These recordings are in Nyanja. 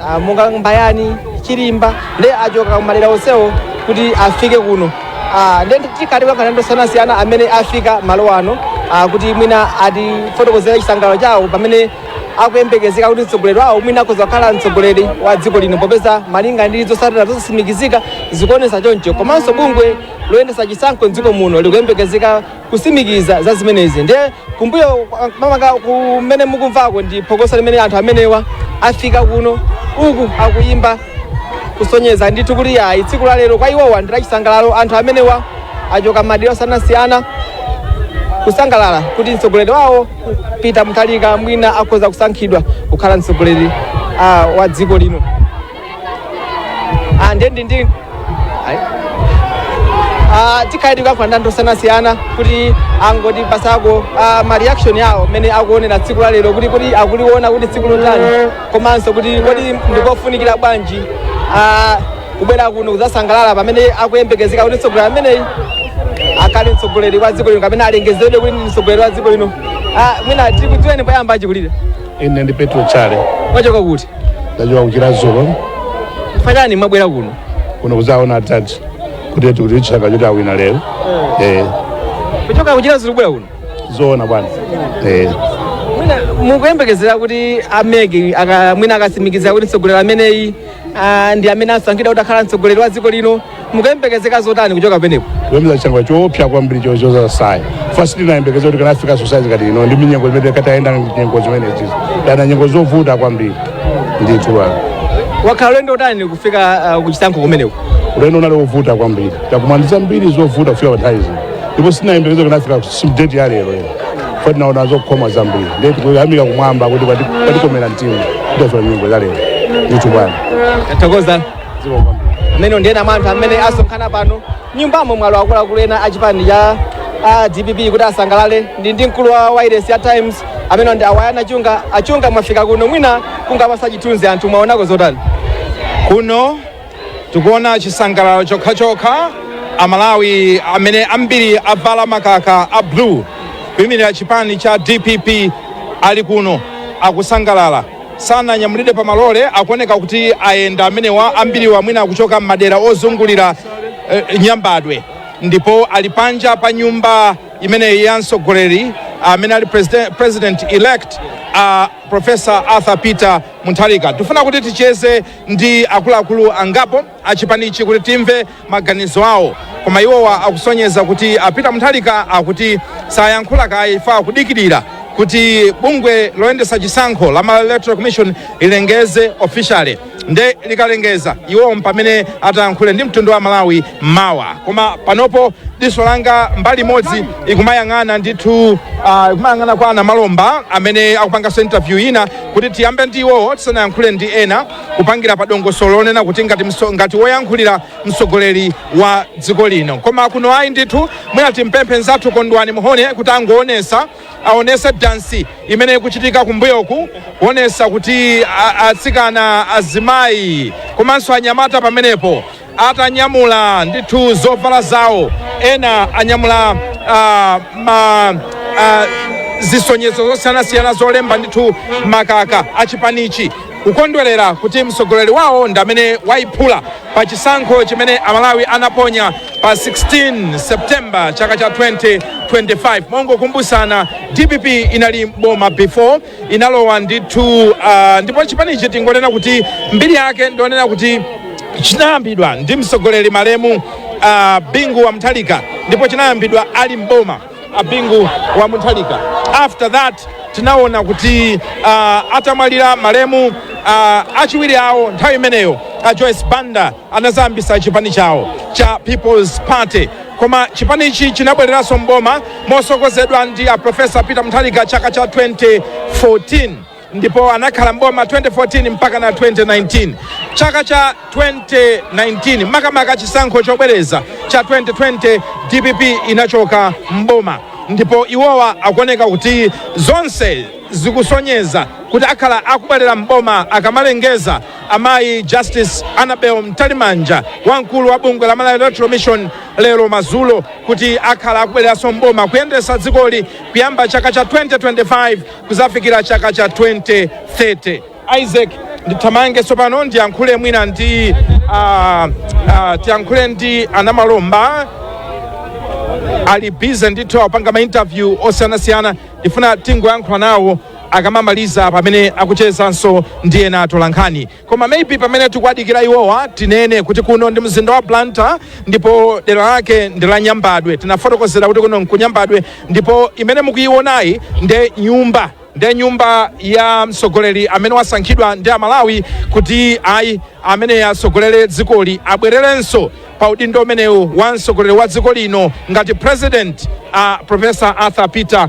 ah, monga Mbayani Chilimba ndi achoka kumadera onsewo kuti afike kuno Ah, ndiye tikhala tikulankhula ndi osiyanasiyana amene afika malo ano ah, kuti mwina atifotokozere chisangalalo chawo pamene akuyembekezeka kuti mtsogoleri wawo mwina akhoza kukhala mtsogoleri wa dziko lino popeza malinga ndi zotsatira zosasimikizika zikuonesa choncho komanso bungwe loyendesa chisankho mdziko muno likuyembekezeka kusimikiza za zimenezi ndiye kumbuyo kwangaku kumene mukumvako ndi phokoso limene anthu amenewa afika kuno uku akuyimba kusonyeza ndithu kuti ayi tsiku la lero kwa iwowa ndi lachisangalalo anthu amenewa achoka madera osiyanasiyana kusangalala kuti mtsogoleri wawo peter mutharika mwina akhoza kusankhidwa kukhala mtsogoleri ah, wa dziko lino Ah, ndi ndi ndi Ayi. Ah, tikhala tikulankhula ndi anthu osiyanasiyana kuti angotipatsako ah, ma reaction awo mmene akuonera tsiku la lero kuti kuti akuliona kuti ndi tsiku lotani komanso kuti kodi ndikofunikira bwanji ah, kubwera kuno kudzasangalala pamene akuyembekezeka kuti mtsogoleri ameneyi akhale mtsogoleri wa dziko lino kapena alengezedwe kuti ndi mtsogoleri wa dziko lino Ah, mwina tikudziweni poyamba achikulire Ine ndi Petro Chale Mwachoka kuti? ndachoka ku Chiradzulu Chifukwa chani mwabwera kuno? kuno kuzaona atati kuti tikuti chaka choti awina lero eh Kuchoka ku Chiradzulu kubwera kuno? zoona bwana eh Mwina mukuyembekezera kuti a MEC ah mwina akasimikizira kuti mtsogoleri ameneyi Ah, ndi amene asankhidwa kuti akhala mtsogoleri wa dziko lino mukuyembekezera zotani kuchoka pamenepo kupeza chaka choopsa kwambiri chozoza sayi fasi sitinayembekeza kuti tikanafika sosaiti ngati ino ndi nyengo zimene tayenda nyengo zimenezi dana nyengo zovuta kwambiri ndithu bwana wakhala ulendo utani kufika ah, kuchisankho kumeneko ulendo unali wovuta kwambiri takumana ndi zambiri zovuta kufika pa nthawi zino ndipo sitinayembekeza tikanafika simdeti ya lero ino Poti tinaona zokhoma zambiri ndiye tikuyamika kumwamba kuti kwati- kwatikomera mtima kutosola nyimbo za lero ndithu bwana tathokoza zikomo kwambiri amene ndi ena mwa anthu amene asonkhana pano nyumbamo mwalowa akuluakulu ena a chipani cha a dpp kuti asangalale ndili ndi mkulu wa wairesi ya times amene ndi a Wonderful Chunga a Chunga mwafika kuno mwina kungowapatsa chithunzi anthu mwaonako zotani kuno Tikuona chisangalalo chokhachokha, Amalawi amene ambiri avala makaka a blue kuimirira chipani cha dpp ali kuno akusangalala. Sananyamulidwe pa malole, akuoneka kuti ayenda amenewa. Ambiriwa mwina akuchoka m'madera ozungulira eh, Nyambadwe ndipo ali panja pa nyumba imeneyi ya mtsogoleri amene ali president, president elect uh, Professor Arthur Peter Mutharika. Tifuna kuti ticheze ndi akuluakulu angapo a chipanichi kuti timve maganizo awo koma iwowa akusonyeza kuti a Peter Mutharika akuti sayankhula kaye ife akudikirira kuti bungwe loyendesa chisankho la Malawi Electoral Commission lilengeze officially nde likalengeza iwo mpamene atayankhule ndi mtundu wa Malawi mawa koma panopo diso langa mbali imodzi ikumayang'ana ndithu ah, ikumayang'ana kwa a Namalomba amene akupanganso interview ina Kuti tiyambe ndi iwowo tisanayankhule ndi ena, kupangira pa dongosolo lonena kuti ngati mso- ngati woyankhulira mtsogoleri wa dziko lino. Koma kuno ayi ndithu, mwina timpemphe nzathu Kondwani Mhone kuti angoonesa aonese dansi imene ikuchitika kumbuyoku kuonesa kuti a- atsikana azimayi komanso anyamata pamenepo atanyamula ndithu zovala zawo ena anyamula ah, ma ah, zisonyezo zosiyanasiyana zolemba ndithu makaka achipanichi kukondwerera kuti mtsogoleri wawo ndi amene wayiphula pa chisankho chimene amalawi anaponya pa 16 september chaka cha 2025 mongokumbutsana dpp inali mboma before inalowa ndithu uh, ndipo chipanichi tingoonera kuti mbiri yake ndionena kuti chinayambidwa ndi mtsogoleri malemu uh, bingu wa mutharika ndipo chinayambidwa ali mboma a bingu wa mutharika after that tinaona kuti uh, atamwalira malemu uh, achiwiri awo nthawi imeneyo a joyce banda anazayambisa chipani chawo cha people's party Koma chipanichi chinabwereranso m'boma mosogozedwa ndi a Professor Peter Mutharika chaka cha 2014 ndipo anakhala m'boma 2014 mpaka na 2019. Chaka cha 2019 makamaka chisankho chobwereza cha 2020 DPP inachoka m'boma ndipo iwowa akuoneka kuti zonse zikusonyeza kuti akhala akubwerera m'boma akamalengeza Amayi Justice Annabel Mtalimanja wamkulu wa bungwe la Malawi Electoral Commission lero madzulo kuti akhala akubwereranso mboma kuyendetsa dzikoli kuyamba chaka cha 2025 kuzafikira chaka cha 2030 Isaac ndithamange tsopano ndiyankhule mwina ndi ah, ah, tiyankhule ndi anamalomba ali busy ndithu akupanga ma interview osiyanasiyana tifuna tingoyankhula nawo akamamaliza pamene akuchezanso ndi ena atolankhani koma maybe pamene tikuwadikira iwowa tinene kuti kuno ndi mzinda wa blantyre ndipo dera lake ndi la nyambadwe tinafotokozera kuti kuno nkunyambadwe ndipo imene mukuyiwonayi nde nyumba nde nyumba ya mtsogoleri amene wasankhidwa ndi amalawi kuti ayi amene atsogolere dzikoli abwererenso pa udindo umenewu wa mtsogoleri wa dziko lino ngati president profesa arthur peter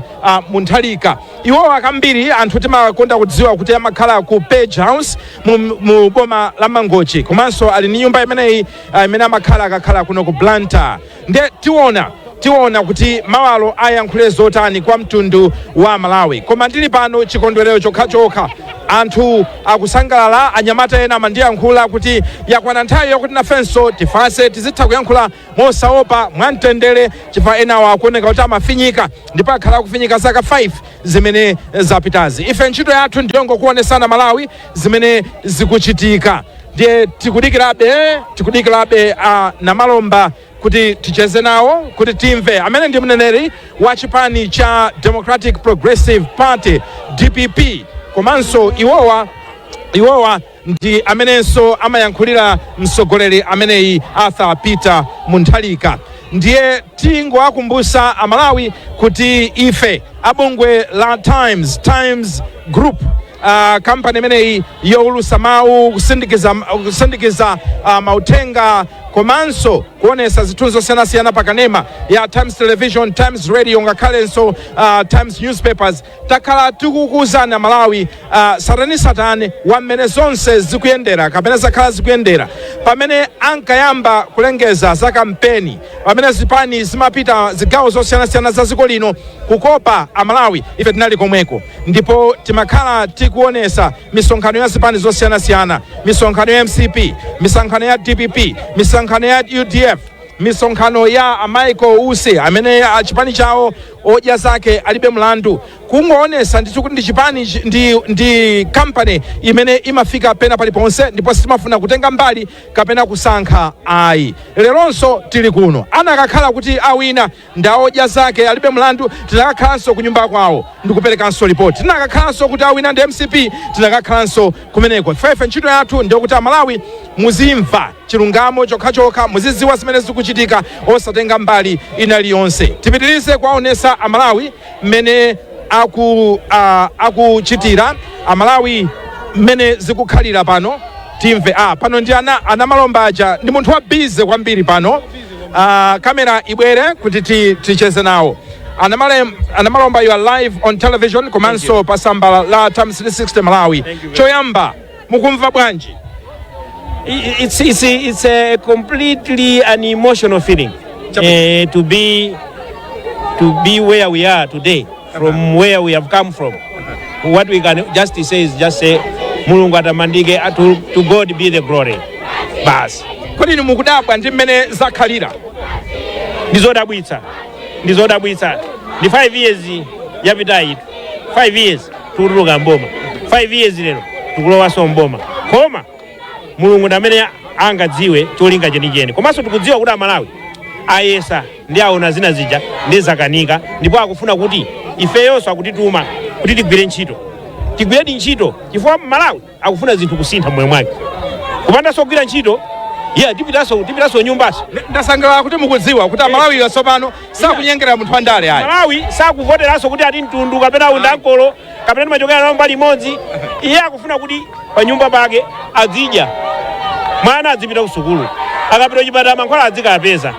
mutharika iwowa kambiri anthu timakonda kudziwa kuti amakhala ku page house mu, mu boma la mangochi komanso ali ndi nyumba imeneyi ah, imene amakhala akakhala kuno ku blantyre nde tiona Tiona kuti mawalo ayankhule zotani kwa mtundu wa Malawi. Koma ndili pano chikondwerero chokhachokha anthu akusangalala. Anyamata ena amandiyankhula kuti yakwana nthawi yakuti nafenso tifanse tizitha kuyankhula mosaopa mwamtendere, chifukwa enawo akuoneka kuti amafinyika ndipo akhala akufinyika zaka 5 zimene zapitazi. Ife ntchito yathu ndiyongokuonesani aMalawi zimene zikuchitika, ndiye tikudikirabe tikudikirabe a Namalomba kuti ticheze nawo kuti timve amene ndi mneneri wa chipani cha democratic progressive party dpp komanso iwowa iwowa ndi amenenso amayankhulira mtsogoleri ameneyi arthur peter mutharika ndiye tingowakumbusa amalawi kuti ife abungwe la times times group uh, kampani imeneyi youlusa mawu kusindikiza, kusindikiza uh, mauthenga komanso kuonesa zithunzi zosiyanasiyana pa kanema ya times television times radio ngakhalenso uh, times newspapers takhala tikukuuzani amalawi uh, tsatanetsatane wa mmene zonse zikuyendera kapena zakhala zikuyendera pamene ankayamba kulengeza za kampeni pamene zipani zimapita zigawo zosiyanasiyana za dziko lino kukopa amalawi ife tinali komweko ndipo timakhala tikuonesa misonkhano ya zipani zosiyanasiyana misonkhano ya mcp misonkhano ya dpp misonkhano ya udf misonkhano ya michael usi amene ah, chipani chawo odya zake alibe mlandu kungoonesa ndithu kuti ndi chipani chi- ndi, ndi kampani imene imafika pena paliponse ndipo sitimafuna kutenga mbali kapena kusankha ayi leronso tili kuno anakakhala kuti awina ndi a odya zake alibe mlandu tinakakhalanso ku nyumba kwawo ndikuperekanso lipoti tinakakhalanso kuti awina ndi mcp tinakakhalanso kumeneko ifeyo ntchito yathu ndiyokuti amalawi muzimva chilungamo chokhachokha muziziwa zimene zikuchitika osatenga mbali ina liyonse tipitirize kuwaonesa amalawi mmene aku ah, akuchitira amalawi mmene zikukhalira pano timve ah, pano ndi a- a namalomba aja ndi munthu wa bize kwambiri pano ah, kamera ibwere kuti ti- ticheze nawo a Namale- a namalomba you are live on television komanso pa tsamba la times 360 malawi choyamba mukumva bwanji I- i- it's, it's, it's a completely an emotional feeling Chabwino. uh, to be to be where we are today from where we have come from what we can just say is just say mulungu atamandike uh, to, to god be the glory basi kodi inu mukudabwa ndi mmene zakhalira ndizodabwitsa ndizodabwitsa ndi 5 years yapitayi 5 years tikutuluka mboma 5 years lero tikulowanso mboma koma mulungu ndi amene angadziwe cholinga chenicheni komanso tikudziwa kuti amalawi ayesa ndi aona zina zija ndi zakanika ndipo akufuna kuti ifeyonso akutituma kuti tigwire ntchito tigwiredi ntchito chifukwa mmalawi akufuna zinthu kusintha mmoyo mwake kupandanso kugwira ntchito yeah tipitanso tipitanso nyumbanso ndasangalala kuti mukudziwa kuti amalawiwa tsopano sakunyengera munthu wandale ayi mmalawi sakuvoteranso kuti ati mtundu kapena u ndi ankolo kapena timachokera naye mbali imodzi iye akufuna kuti pa nyumba pake azidya mwana azipita kusukulu akapita kuchipatala mankhwala azikapeza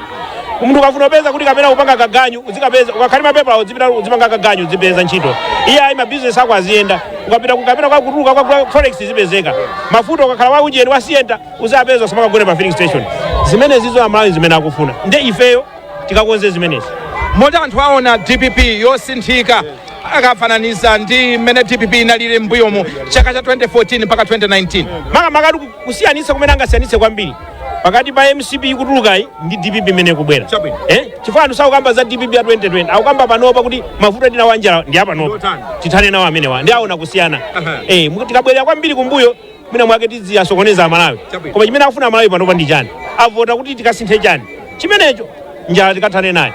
munthu ukafuna upeza kuti kapena kupanga kaganyu udzikapeza ukakhali mapepala udzipita udzipanga kaganyu udzipeza ntchito iye ayi mabizinesi ako aziyenda ukapita ku- kapena kwakutuluka kwa forex izipezeka mafuta ukakhala wa ujeni wa sienta uziwapeza usamakagone pa filling station zimenezizo amalawi zimene akufuna nde ifeyo tikakonze zimenezi moti anthu aone dpp yosinthika akafananiza ndi mmene dpp inalili m'mbuyomo chaka cha 2014 mpaka 2019 makamaka kusiyanitsa kumene angasiyanitse kwambiri pakati pa mcp ikutulukayi ndi dpp imene ikubwera Chabwino. eh? chifukwa anthu sakukamba za dpp ya 2020 akukamba panopa kuti mavuto atidya anjala ndi apanopa Ndotani? tithane nawo amenewa ndi aone kusiyana Aha. eh, mu- tikabwerera kwambiri kumbuyo mwina mwake tiziyasokoneza amalawi Chabwino. koma chimene akufuna amalawi panopa ndi chani avota kuti tikasinthe chani chimenecho njala tikathane nayo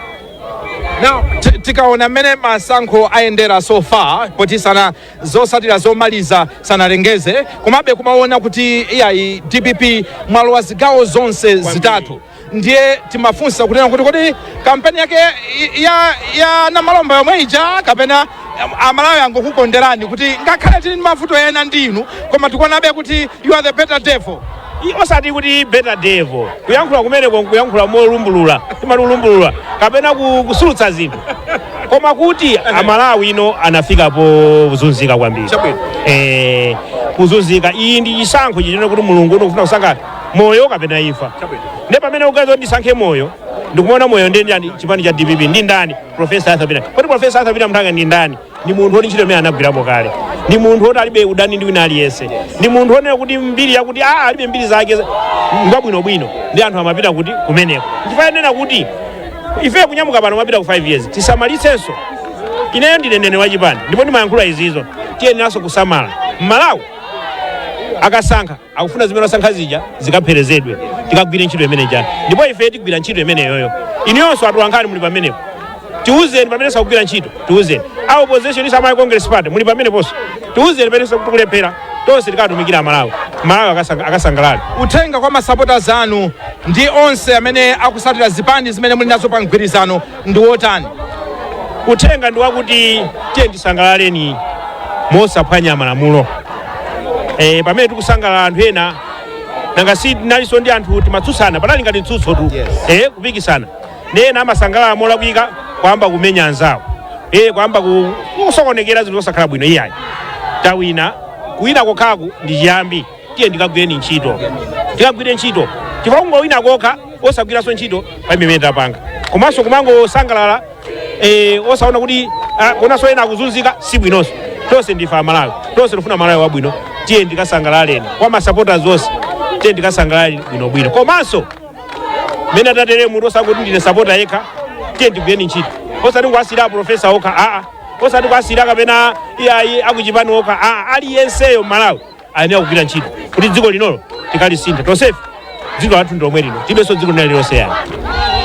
now ti- tikaona mmene masankho ayendera so far poti sana zotsatira zomaliza sanalengeze komabe kumaona kuti iyayi dpp mwalowa zigawo zonse zitatu ndiye timafunsa kunena kuti kodi kampeni yake i- ya, ya a namalomba yomwe ija kapena am- amalawi angokukonderani kuti ngakhale tili ndi mavuto ena ndi inu koma tikuonabe kuti you are the better devil I- osati kuti better devil kuyankhula kumeneko nkuyankhula molumbulula timati ulumbulula kapena ku- kusulutsa zinthu koma kuti amalawi ano anafika pozunzika kwambiri Chabwino. eh, kuzunzika iyi ndi chisankho chonena kuti mulungu ndikufuna kusankha moyo kapena imfa Chabwino. nde pamene uganiza kuti ndisankhe moyo ndikumaona moyo ndi ndani chipani cha dpp ndi ndani profesa arthur peter kodi profesa arthur peter mutharika ndi ndani ndi munthu woti ntchito imene anagwirapo kale ndi munthu woti alibe udani ndi wina aliyense ndi munthu wonena kuti mbiri yakuti a alibe mbiri zake ngwabwinobwino ndi anthu amavota kuti kumeneko chifukwa anena kuti ife kunyamuka pano kumapita ku 5 years tisamalitsenso ineyo ndine mneneri wa chipani ndipo ndimayankhula izizo tiyeneranso kusamala mmalawi akasankha akufuna zimene asankha zija zikapherezedwe tikagwire ntchito imeneja ndipo ife tigwira ntchito imeneyoyo inuyonso atulankhani muli pamenepo tiuzeni pamene sitikugwira ntchito tiuzeni a opposition inu a malawi congress party muli pameneponso tiuzeni pamene tikulephera tonse tikatumikira amalawi malawi akasang- akasangalale uthenga kwa masapotazi anu ndi onse amene akutsatira zipani zimene muli nazo pa mgwirizano ndi wotani? Uthenga ndi wakuti tiye tisangalaleni mosaphwanya malamulo. E, pamene tikusangalala anthu ena nanga si tinalinso ndi anthu timatsutsana panali ngati mtsutso tu Yes. e, kupikisana ndi ena amasangalala molakwika kwamba kumenya anzawo e, kwamba ku- kusokonekera zinthu zosakhala bwino iyayi tawina kuwina kokhaku ndi chiyambi tiye tikagwireni ntchito tikagwire ntchito chifukwa kungowina kokha osagwiranso ntchito palibe chimene tapanga komanso kumangosangalala eh, osaona kuti ah, kuonanso ena akuzunzika si bwinonso tonse ndife amalawi tonse tifuna malawi wabwino tiye tikasangalaleni kwa masapota onse tiye tikasangalaleni bwinobwino komanso mene atatere munthu osakuti ndine sapota yekha tiye tigwireni ntchito osati kuwasiyira profesa okha aa osati kuwasiyira kapena iyayi akuchipani okha aa aliyenseyo mmalawi ayenera kugwira ntchito kuti dziko linolo tikalisinthe tonsefe dziko lathu ndi lomwe lino tilibenso dziko lina lililonse iyayi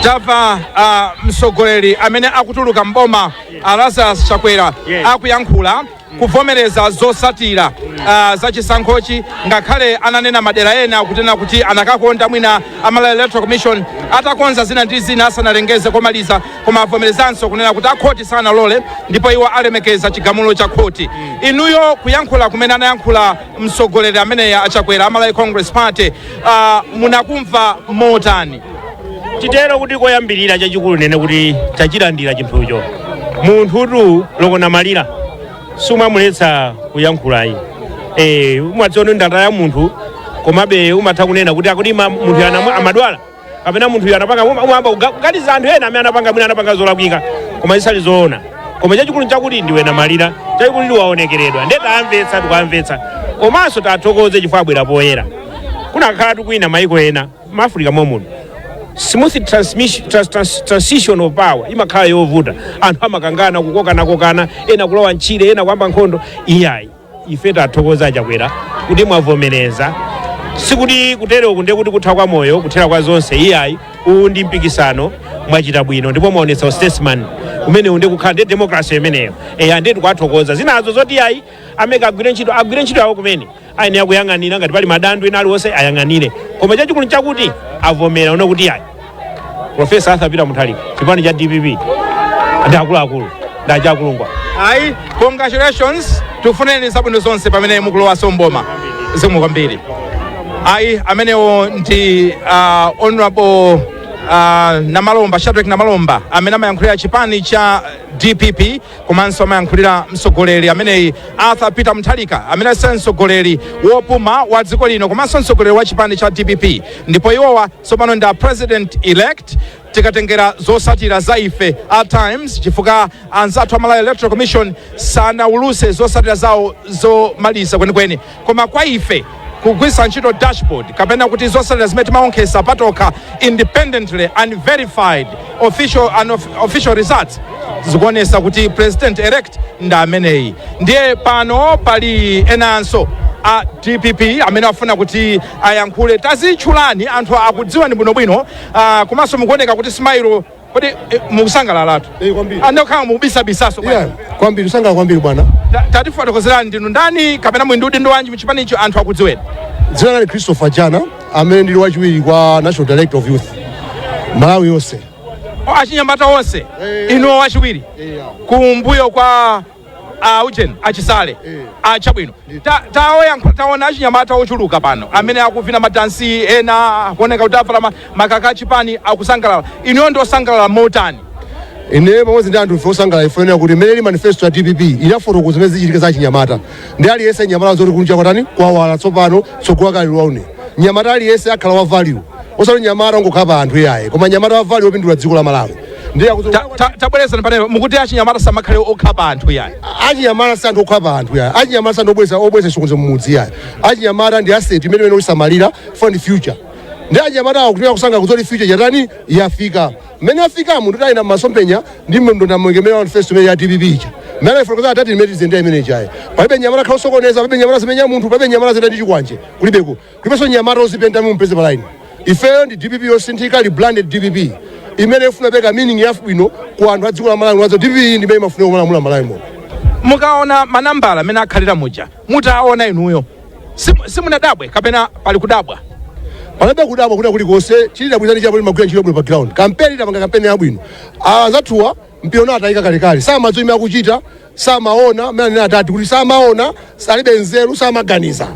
tamva uh, mtsogoleri amene akutuluka mboma uh, lazarus chakwera Yes. akuyankhula kuvomereza zotsatira uh, za chisankhochi ngakhale ananena madera ena kunena kuti anakakonda mwina a malawi electoral commission atakonza zina ndi zina asanalengeze komaliza koma avomerezanso kunena kuti akhoti sanalole ndipo iwo alemekeza chigamulo cha khoti inuyo kuyankhula kumene anayankhula mtsogoleri ameneyu a chakwera a malawi congress party uh, munakumva motani titere kuti koyambirira chachikulu nene kuti tachilandira chinthucho munthutu wokhala namalira sumamuletsa kuyankhula ayi eh umadziona ndata ya munthu komabe umatha kunena kuti akuti ma- munthu ana- amadwala kapena munthu uyu anapanga uma- umayamba kuga- kuganiza anthu ena amene anapanga mwina anapanga zolakwika koma zisali zoona koma chachikulu chakuti ndiwe namalira chachikulu ndiwe wofedwa nde tawamvetsa tikuwamvetsa komanso tiwathokoze chifukwa abwera poyera kunakakhala kuti kwina maiko ena mu afrika momuno smooth transmission, trans, trans, transition of power imakhala yovuta anthu amakangana kukokanakokana ena kulowa mtchire ena kuyamba nkhondo iyayi ife tathokoza a chakwera kuti mwavomereza sikuti kutereku ndiye kuti kutha kwa moyo kuthera kwa zonse iyayi uwu ndi mpikisano mwachita bwino ndipo mwaonetsa ustatesman umenewu ndiye kukhala ndi demokrasi imeneyo eya ndiye tikuwathokoza zinazo zoti iyayi a mec agwire ntchito agwire ntchito yawo kumene ayenera kuyang'anira ngati pali madando ena aliwonse ayang'anire koma chachikulu nchakuti avomera ona kuti iyayi profesa arthur peter muthalika chipani cha dpp ndi akuluakulu ndi a jack mcbrams ayi congratulations tikufunireni zabwino zonse pamene mukulowanso mboma zikomo kwambiri ayi amenewo ndi uh, honorable uh, namalomba shadrack namalomba amene amayankhulira chipani cha dpp komanso amayankhulira mtsogoleri ameneyu arthur peter mutharika amene se mtsogoleri wopuma wa dziko lino komanso mtsogoleri wa chipani cha dpp ndipo iwowa tsopano ndi a president elect tikatengera zosatira za ife a times chifukwa anzathu a malawi electoral commission sanawuluse zosatira zawo zomaliza kwenikweni koma kwa ife kugwiritsa ntchito dashboard kapena kuti zosatira zimene timaonkhesa patokha independently unverified official, and of, official results zikuonesa kuti president elect ndi ameneyi ndiye pano pali enanso a dpp amene afuna kuti ayankhule tazitchulani anthu akudziwani bwinobwino uh, komanso mukuoneka kuti smile Kodi eh, mukusangalalatu? Eh, kwambiri. Ande kukhala mukubisabisaso Yeah, bwana. kwambiri usangala kwambiri bwana Ta- Tatifotokozerani ndinu ndani kapena muli ndi udindo wanji mchipanicho anthu akudziweni. dzina ndine christopher jana amene ndili wachiwiri kwa national director of youth malawi yonse O, Achinyamata onse inuwo wachiwiri kumbuyo kwa a ujeni achisale a chabwino Ta- taoyankhu- taona achinyamata ochuluka pano amene akuvina madansi ena akuoneka kuti avala ma- makaka achipani akusangalala inuyo ndi osangalala motani ine pamodzi ndi anthu ife osangalala ife kuti mmene ili manifesto ya dpp inafotokoza zimene zichitika za achinyamata ndi aliyense nyamata zoti kunja kwatani kwawala tsopano tsogolo lawala une nyamata aliyense akhala wa value osati nyamata ongokhapa anthu iyayi koma nyamata wa value opindula dziko la malawi ndiye akuti Ta- ta- tabwerezani panepa mukuti achinyamata samakhale okhapa anthu yayi achinyamata si anthu okhapa anthu yayi achinyamata si anthu obweza obweza chisokonezo mumudzi yayi achinyamata ndi asset imene imene usamalira fund future ndi achinyamata awo kutumira kusanga kuzoti future yatani yafika mmene yafika munthu tayenda mmasompenya ndi mndondomeko imene manifesto imene ya dpp ija mmene ayifotokoza atati imene tizendera imene ijayi palibe nyamata khala osokoneza palibe nyamata zimenya munthu palibe nyamata zenda ndi chikwanje kulibeko ndiponso nyamata ozipenta mumpeze pa line ifeyo ndi dpp yosinthika rebranded dpp imene ifuna kupereka meaning yabwino ku anthu a dziko la malawi wazo dpp iyi ndimene imafunika kumalamula malawi momo mukaona manambala amene akhalira muja mutaona inuyo simu- simunadabwe kapena pali kudabwa palibe kudabwa kwina kulikonse chili dabwizani chapo timagwira ntchito bwino pa ground kampeni tapanga kampeni yabwino anzathuwa mpira unatayika kalekale samadziwa imene akuchita samaona amene anena atati kuti samaona salibe nzeru samaganiza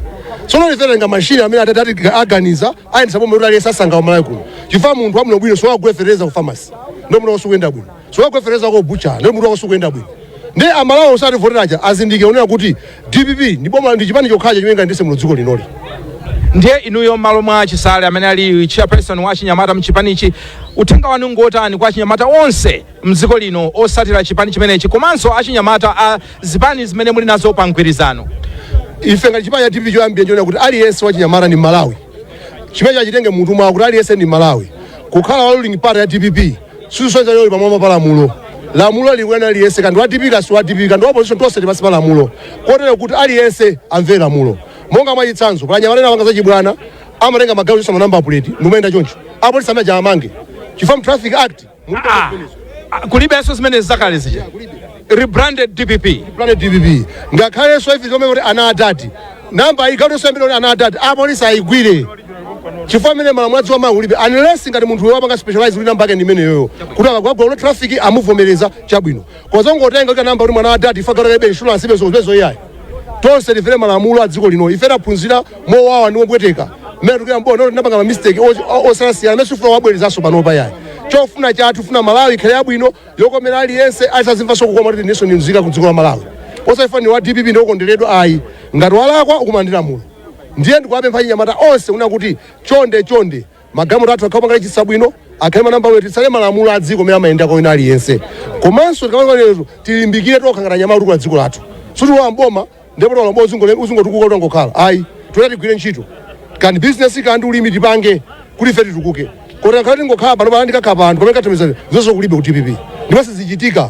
sono liferenga mashini amene atati ati aganiza ayendesa pomwe kuti aliyense umalawi kuno chifukwa munthu wabwino bwino sowagule fereza ku famasi ndo munthu wakoso kuyenda bwino sowagule fereza ko bucha ndo munthu wakoso kuyenda bwino ndi amalawi osativoterawo azindikire awona kuti dpp ndi boma ndi chipani chokhacho chimene chingayendetse muno dziko linoli ndiye inuyo m'malo mwa chisale amene ali chairperson wa achinyamata mchipanichi uthenga wanu ngotani kwa achinyamata onse mdziko lino otsatira chipani chimenechi komanso achinyamata a zipani zimene muli nazo pa mgwirizano? ife ngati chipani cha dpp choyambirira tiona kuti aliyense wachinyamata ndi malawi chimene chachitenge munthu mwawo kuti aliyense ndi malawi kukhala wa ruling party ya dpp sizisonyeza uli pamwamba pa lamulo lamulo likuyang'ana aliyense kaya ndi wa dpp kaya si wa dpp kaya ndi wa opposition tonse tili pansi pa lamulo kotero kuti aliyense amvere lamulo monga mwachitsanzo pa anyamata ena apanga zachibwana amatenga magalimoto kuchotsa manamba puleti ndikumayenda choncho apolisi amenewo amange chifukwa mu traffic act Mulibe Ah, zimenezo. ah, kulibenso zimene zakale zija rebranded dpp rebranded dpp ngakhalenso ife zomwe kuti ana adadi namba ayikhalenso yambiri kuti ana adadi apolisi ayigwire chifukwa m'mene malamulo a dziko la malawi mulibe unless ngati munthu wapanga specialize kuti namba yake ndi imeneyoyo kuti akapita kwa road traffic amuvomereza chabwino kuzingotenga kuti ana adadi kuti mwana wa dadi ife tag ilibe insurance ilibe zonsezo iyayi tonse timvere malamulo a dziko lino ife taphunzira mowawa ndi mopweteka mmene tili m'boma kuti tinapanga mamistake osiyana amene sitifuna tiwabwerezenso panopa iyayi chofuna chathu tifuna malawi ikhale yabwino yokomera aliyense azimvanso kukoma kuti inenso ndimzika ku dziko la malawi osati chifukwa ndi wa dpp ndiokonderedwa ayi ngati walakwa ukumana ndi lamulo ndiye ndikuwapempha achinyamata onse kuno kuti chonde chonde Magalimoto athu akhale opanga lejisita bwino, akhale ndi manambala bwino, titsate malamulo a dziko m'mene amayendera kwa wina aliyense. Komanso tikamapanga zimenezo tilimbikire tokha ngati achinyamata otukula dziko lathu. Sitilowa m'boma ndipo talowa m'boma uzingo- uzingotukuka utangokhala. Ayi, tiyenera tigwire ntchito. Kaya ndi business kaya ndi ulimi tipange kuti ife titukuke. Kotero ngakhale tingokhala pano pano ndikakhala pa anthu pamene kathamizani zonse kulibe ku DPP. Ndipo sizichitika.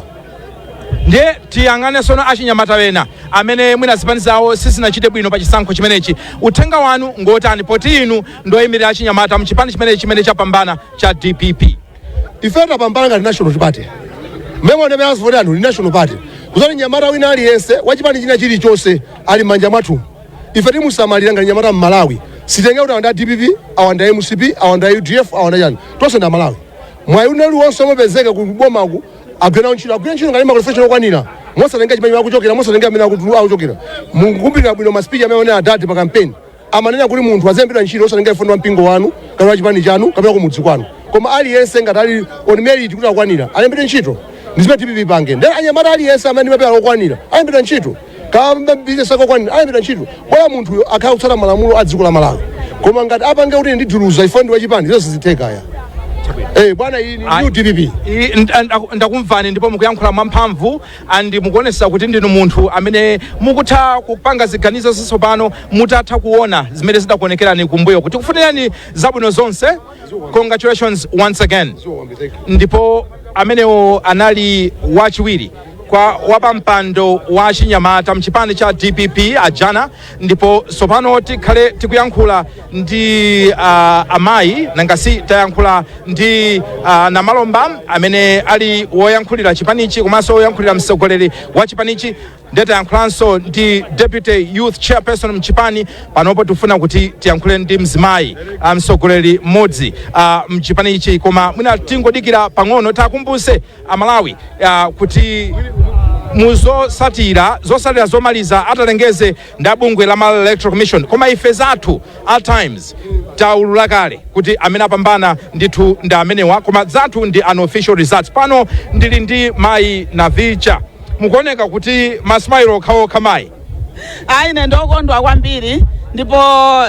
ndiye tiyang'ane sono achinyamata ena amene mwina zipani zawo sizinachite bwino pa chisankho chimenechi uthenga wanu ngotani poti inu ndoyimirira achinyamata mchipani chimenechi chimene chapambana cha dpp ife tapambana ngati national party mwaona m'mene avotera anthu ndi national party kusonyeza zoti wachinyamata wina aliyense wachipani china chilichonse ali m'manja mwathu ife timusamalira ngati wachinyamata mmalawi sitenge kuti awa nda dpp awa nda mcp awa nda udf awa nda chani tonse ndi amalawi mwayi wina uli wonse umapezeka ku bomaku agwira nawo ntchito agwira ntchito ngati ali ndi ma qualification okwanira mosatenga chimene akuchokera mosatenga amene akutu- akuchokera mukumbukira bwino ma speech amene anenera adadi pa kampeni amanena kuti munthu azilembedwa ntchito osatenga chifukwa ndi wa mpingo wanu kapena wa chipani chanu kapena kumudzi kwanu koma aliyense ngati ali on merit kuti akwanira alembedwe ntchito ndizimene tizipanga ndi achinyamata aliyense amene ali ndi mapepala okwanira alembedwa ntchito kaya ndi bizinesi akakwanira ayambira ntchito bora munthuyo akhala kutsata malamulo a dziko la malawi koma ngati apange kuti ndi duluza ine ndi wachipani zonse zithekaya Eh, bwana iyi ni Ayi. new dpp I- nd- nd- ndakumvani ndipo mukuyankhula mwamphamvu and mukuonesa kuti ndinu munthu amene mukutha kupanga ziganizo zatsopano mutatha kuona zimene zidakuonekerani kumbuyo kuti kufunirani zabwino zonse congratulations once again ndipo amenewo anali wachiwiri kwa wapampando wa achinyamata mchipani cha dpp ajana ndipo tsopano tikhale tikuyankhula ndi uh, amayi nanga si tayankhula ndi uh, a Namalomba amene ali woyankhulira chipanichi komanso woyankhulira mtsogoleri wa chipanichi ndiye tayankhulanso ndi deputy youth chairperson mchipani panopo tifuna kuti tiyankhule ndi mzimayi ah, mtsogoleri mmodzi ah, mchipani ichi koma mwina tingodikira pang'ono tikumbutse amalawi ah, kuti muzosatira zosatira zomaliza atalengezedwe ndi bungwe la Malawi Electoral Commission koma ife zathu a Times taulula kale kuti amene apambana ndithu ndi amenewa koma zathu ndi unofficial results pano ndili ndi mayi Navicha mukuoneka kuti masimairo okhaokha mayi ayi ine ndiokondwa kwambiri ndipo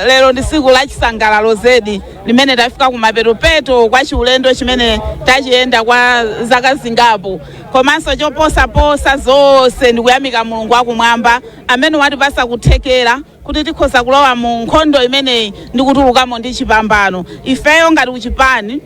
lero ndi tsiku la chisangalalo zedi limene tafika kumapeto-peto kwa chiulendo chimene tachiyenda kwa zaka zingapo komanso choposaposa zonse ndikuyamika mulungu wakumwamba amene watipatsa kuthekera kuti tikhoza kulowa mu nkhondo imeneyi ndi kutulukamo ndi chipambano ifeyo ngati kuchipani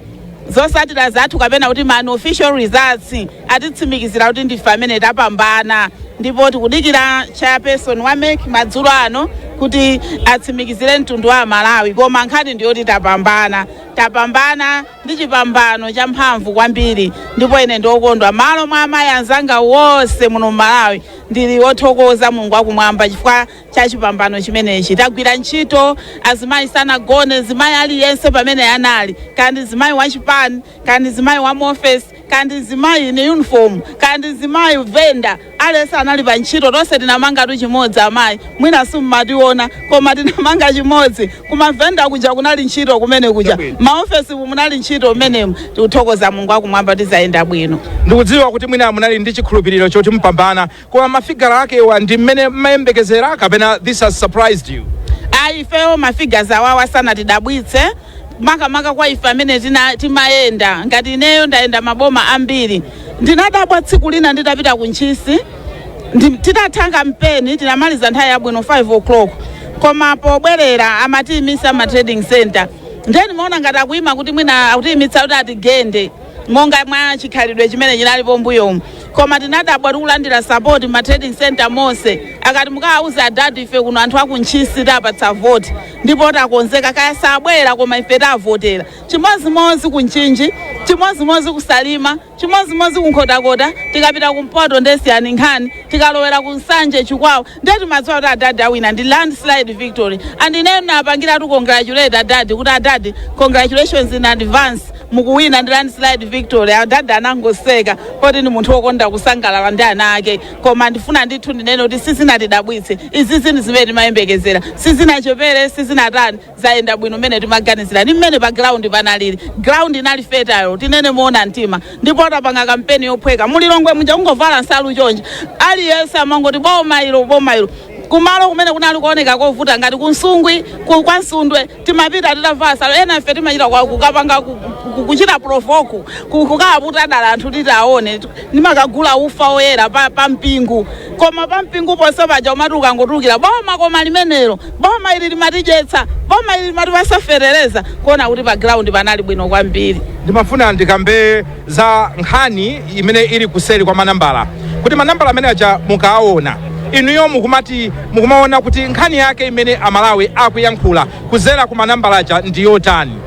zosatira zathu kapena kuti ma unofficial results atitsimikizira kuti ndife amene tapambana ndipo tikudikira chairperson wa mek madzulo ano kuti atsimikizire mtundu wa amalawi koma nkhani ndiyoti tapambana tapambana ndi chipambano champhamvu kwambiri ndipo ine ndiokondwa malo mwa amayi anzanga wonse muno mmalawi ndili othokoza mulungu akumwamba chifukwa cha chipambano chimenechi tagwira ntchito azimayi sanagone zimayi aliyense pamene anali kaya ndi zimayi wachipani kaya ndi zimayi wa muofesi kaya ndi mzimayi in uniform kaya ndi mzimayi venda aliyense anali pa ntchito tonse tinamangatu chimodzi amayi mwina simumationa koma tinamanga chimodzi kumavenda kuja kunali ntchito kumene kuja maofesimu munali ntchito mmenemu tikuthokoza mulungu akumwamba kuti zayenda bwino ndikudziwa kuti mwina munali ndi chikhulupiriro choti mupambana koma mafigazi akewa ndi mmene mmayembekezera kapena this has surprised you ayi ifeyo mafigures awawa sanatidabwitse makamaka kwa ife amene tina- timayenda ngati ineyo ndayenda maboma ambiri ndinadabwa tsiku lina nditapita ku ntchisi ndi- titatha kampeni tinamaliza nthawi yabwino 5 o'clock koma pobwerera amatiimisa ma trading center ndiye ndimaona ngati akuyima kuti mwina akutiimitsa kuti atigende monga mwa chikhalidwe chimene chinalipo mbuyomu koma tinadabwa tikulandira sapoti ma trading center monse amati mukawauze adadi ife kuno anthu akuntchisi tapatsa voti ndipo takonzeka kaya sabwera koma ife tavotera chimodzimodzi kumchinji chimodzimodzi kusalima chimodzimodzi kunkhotakota tikapita kumpoto nde siyani nkhani tikalowera kunsanje chikwawa nde timadziwa kuti adadi awina ndi landslide victory and ineyo ndinapangiratu congratulate adadi kuti adadi congratulations in advance mukuwina ndi landslide victory adadi anangoseka poti ndi munthu wokonda kusangalala ndi ana ake koma ndifuna ndithu ndinene kuti sizinatidabwitse izi ndi zinthu zimene timayembekezera sizinachepere sizinatani zayenda bwino mmene timaganizira ndi mmene pa ground panalili ground inali fertile tinene moona mtima ndipo tapanga kampeni yophweka mulilongwe muja kungovala nsalu chonje aliyense amangoti boma ilo boma ilo kumalo kumene kunali kuoneka kovuta ngati kunsungwi ku- kwa nsundwe timapita titavala nsalu ena ife timachita kwa- kukapanga ku- ku- kuchita provoku ku- kukawaputa dala anthu kuti tione ndimakagula ufa oyera pa, pa mpingu koma pa mpingu ponse paja umati ukangotulukira boma koma limenelo boma ili limatidyetsa boma ili limatipatsa fetereza kuona kuti pa ground panali bwino kwambiri ndimafuna ndikambe za nkhani imene ili kuseri kwa manambala kuti manambala amene aja mukaawona inuyo mukumati mukumaona kuti nkhani yake imene amalawi akuyankhula kudzera ku manambala aja ndi yotani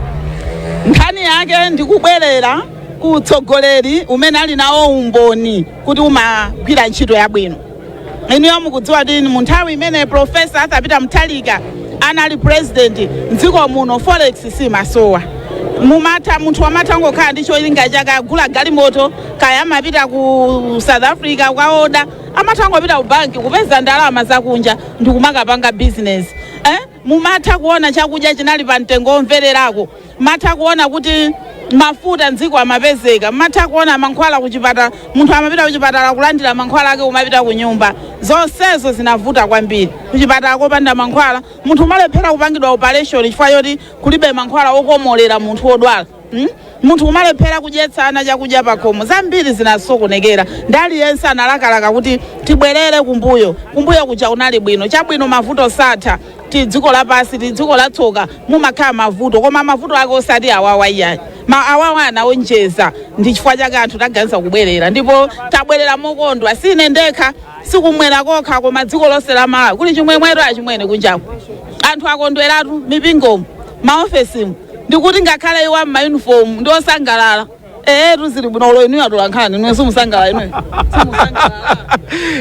nkhani yake ndikubwerera ku utsogoleri umene ali nawo umboni kuti umagwira ntchito yabwino inuyo mukudziwa kuti mu nthawi imene profesa atha pita mutharika anali president mdziko muno forex simasowa mumatha munthu amatha kungokhala ndi cholinga chake agula galimoto kaya amapita ku south africa kukaoda amatha kungopita ku banki kupeza ndalama zakunja ndikumakapanga business eh? mumatha kuona chakudya chinali pa mtengo womvererako mumatha kuona kuti mafuta mdziko amapezeka mumatha kuona mankhwala kuchipatala munthu amapita kuchipatala kulandira mankhwala ake kumapita ku nyumba zonsezo zinavuta kwambiri kuchipatala kopanda mankhwala munthu umalephera kupangidwa operation chifukwa choti kulibe mankhwala okomolera munthu wodwala Hmm? munthu kumalephera kudyetsa ana chakudya pakhomo zambiri zinasokonekera ndi aliyense analakalaka kuti tibwerere kumbuyo kumbuyo kuja kunali bwino chabwino mavuto satha ndi dziko lapansi ndi dziko latsoka mumakhala mavuto koma mavuto ake osati awawa iyayi ma awawa anaonjeza ndi chifukwa chake anthu taganiza kubwerera ndipo tabwerera mokondwa si ine ndekha sikumwera kokha koma dziko lonse la malawi kuli chimwemweto achimwene kunjaku anthu akondweratu m'mipingomo m'maofesimu ndikuti ngakhale iwo ammayunifomu ndi osangalala ee tizili bwino olo inuyo atola nkhani inuyo simusangalala inuyo simusangalala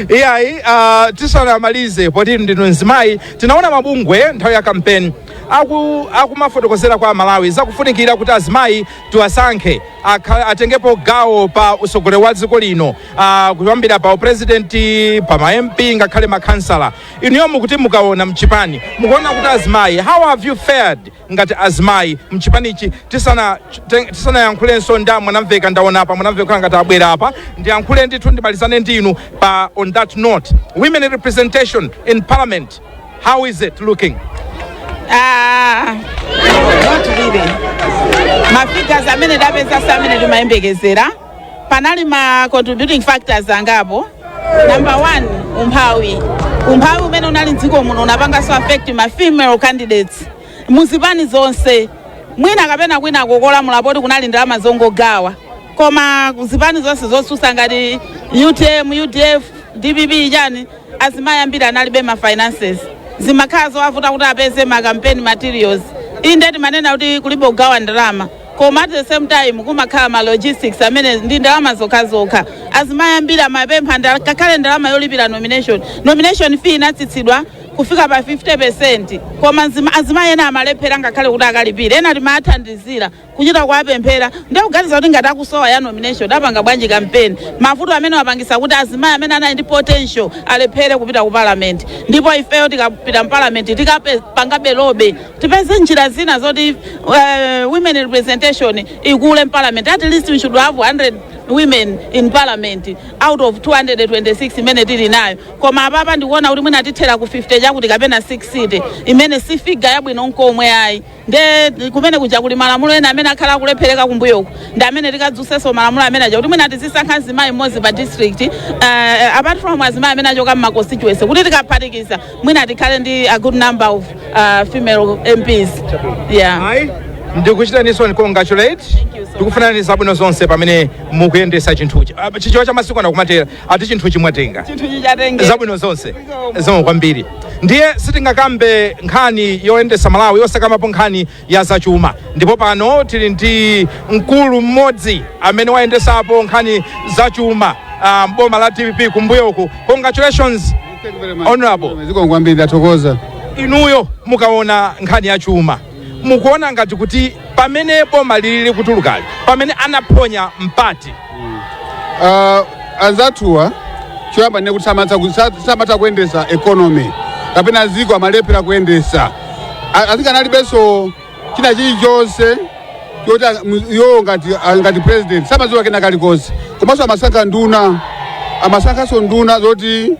iyayi uh, tisanamalize poti ndinu mzimayi tinaona mabungwe nthawi ya kampeni aku akumafotokozera kwa amalawi zakufunikira kuti azimayi tiwasankhe akha- atengepo gawo pa usogoleri wa dziko lino uh, kuyambira pa uprezidenti pa ma mp ngakhale makhansala inuyo mukuti mukaona mchipani mukuona kuti azimayi how have you fared ngati azimayi mchipanichi tisana te- tisanayankhulenso ndi a mwanamveka ndaona a mwanamveka kukhala ngati abwera apa ndiyankhule ndithu ndimalizane ndi inu pa on that note women representation in parliament how is it looking Ah, not really. mafigures amene tapeza si amene timayembekezera panali ma contributing factors angapo number one umphawi umphawi umene unali mdziko muno unapanganso affect ma female candidates muzipani zonse mwina kapena kwina kokulamula poti kunali ndalama zongogawa koma zipani zonse zotsusa ngati utm udf dpp chani azimayi ambiri analibe ma finances zimakhala zowavuta kuti apeze ma campaign materials inde timanena kuti kulibe kugawa ndalama koma at the same time kumakhala ma logistics amene ndi ndalama zokhazokha azimayi ambiri amapempha ndala- ngakhale ndalama yolipira nomination nomination fee inatsitsidwa kufika pa 50 koma nzima- azimayi ena amalephera ngakhale kuti akalipire ena timathandizira kuchita kuwapemphera ndikuganiza kuti ngati akusowa ya nomination apanga bwanji kampeni mavuto amene apangisa kuti azimayi amene anali ndi potential alephere kupita ku parliament ndipo ifeyo tikapita mu parliament tikapangabe lobby tipeze njira zina zoti uh, women representation ikule mparliament at least we should have 100 women in parliament out of 226 imene tili nayo koma apapa ndikuona kuti mwina tithera ku 50 chakuti kapena 60 imene si figa yabwino nkomwe ayi nde kumene kuja kuli malamulo ena amene akhala akulephereka kumbuyoko ndi amene tikadzuseso malamulo amene aja kuti mwina tizisankha mzimayi mmodzi pa district uh, apart from azimayi amene achoka mma constituency kuti tikaphatikiza mwina tikhale ndi a good number of uh, female mps yeah. ayi ndikuchitaniso congratulate Thank you so tikufunirani zabwino zonse pamene mukuyendesa chinthuchi Ah, chichewa cha masiku ano kumatera ati chinthuchi mwatenga chinthu chija tengani zabwino zonse zikomo kwambiri ndiye sitingakambe nkhani yoyendesa malawi yosakamapo nkhani ya zachuma ndipo pano tili ndi mkulu mmodzi amene wayendesapo nkhani zachuma ah, m'boma la dpp kumbuyo uku congratulations honorable zikomo kwambiri ndathokoza inuyo mukaona nkhani ya chuma mukuona ngati kuti pamene boma lili likutulukali pamene anaphonya mpati Ah, anzathuwa choyamba ndinene kuti samatha ku- sa- samatha kuyendesa economy kapena ziko amalephera kuyendesa A- asing'anga analibenso china chilichonse choti a- mu- iwowo ngati a- ngati president samadziwa kena kalikonse komanso amasankha nduna amasankhanso nduna zoti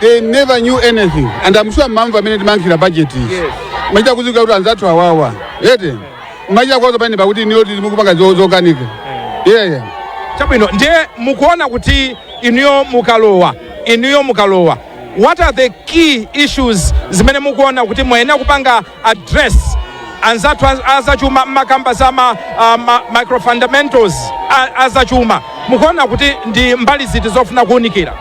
they never knew anything and I'm sure mamva mmene timankhira budget izi Yes. machita kudziwa kuti anzathu awawa ete machita kuwauza pamene pakuti inuyo izi mukupanga zo- zokanika yeah yeah chabwino ndiye mukuona kuti inuyo mukalowa inuyo mukalowa what are the key issues zimene mukuona kuti muyenera kupanga address anzathu az- azachuma mumakamba za ma, uh, ma microfundamentals a- azachuma mukuona kuti ndi mbali ziti zofuna kuunikira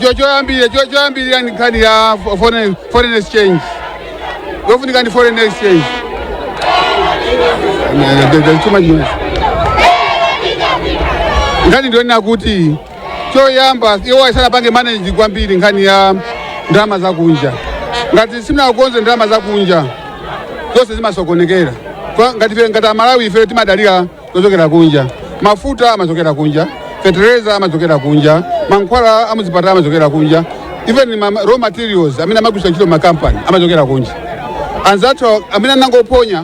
Cho- choyambirira cho- choyambirira ndi nkhani ya fo- foreign foreign exchange yofunika ndi foreign exchange Eh, the- the- too much noise. nkhani ndi yonena kuti choyamba iwo sanapange manage kwambiri nkhani ya ndalama zakunja ngati simunakonze ndalama zakunja zonse zimasokonekera Kwa- ngati ife- ngati amalawi ife timadalira zochokera kunja mafuta amachokera kunja fetereza amachokera kunja mankhwala amuzipatala amachokera kunja even ma raw materials amene amagwiritsa ntchito makampani amachokera kunja anzathu amene anangophonya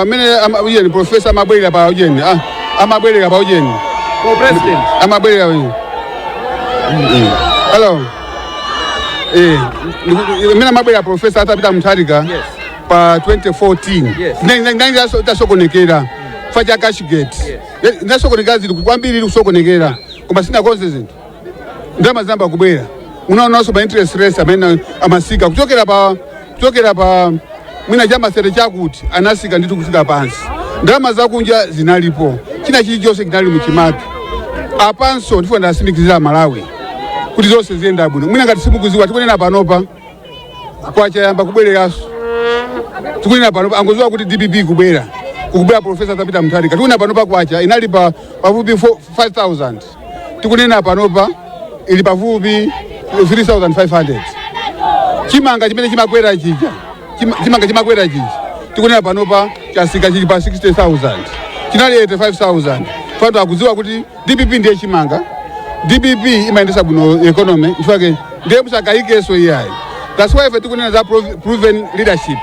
amene ama- ujeni profesa amabwera pa ujeni ah, amabwera pa ujeni For president. amabwera pa ujeni Mm. hello eh ndiku- mmene amabwera profesa Arthur Peter Mutharika Yes. pa 2014 Yes. Nda- nda- ndangi taso- tasokonekera chifukwa cha cashgate zasokonekera zinthu kwambiri kusokonekera koma anakonza zinthu ndalama zinayamba kubwera munaonanso ma interest rates mmene amasika kuchokera pa kuchokera pa mwina cha ma thirty chakuti anasika ndithu kufika pansi ndalama zakunja zinalipo china chilichonse chinali muchimake apanso ndifuna ndiwatsimikizire amalawi kuti zonse ziyenda bwino mwina ngati simukuziwa tikunena panopa kwacha yayamba kubwereranso tikunena panopa angoziwa kuti dpp kubwera kukubwera profesa Arthur Peter Mutharika tikunena panopa kwacha inali pa pafupi 5000 tikunena panopa ili pafupi 3500 chimanga chimene chimakwera chija chima- chimanga chimakwera chija tikunena panopa chasika chili pa 60000 chinali 85000 anthu akudziwa kuti dpp ndiye chimanga dpp imayendesa bwino economy chifukwa ndiye musakayikenso iyayi that's why ife tikunena za prov- proven leadership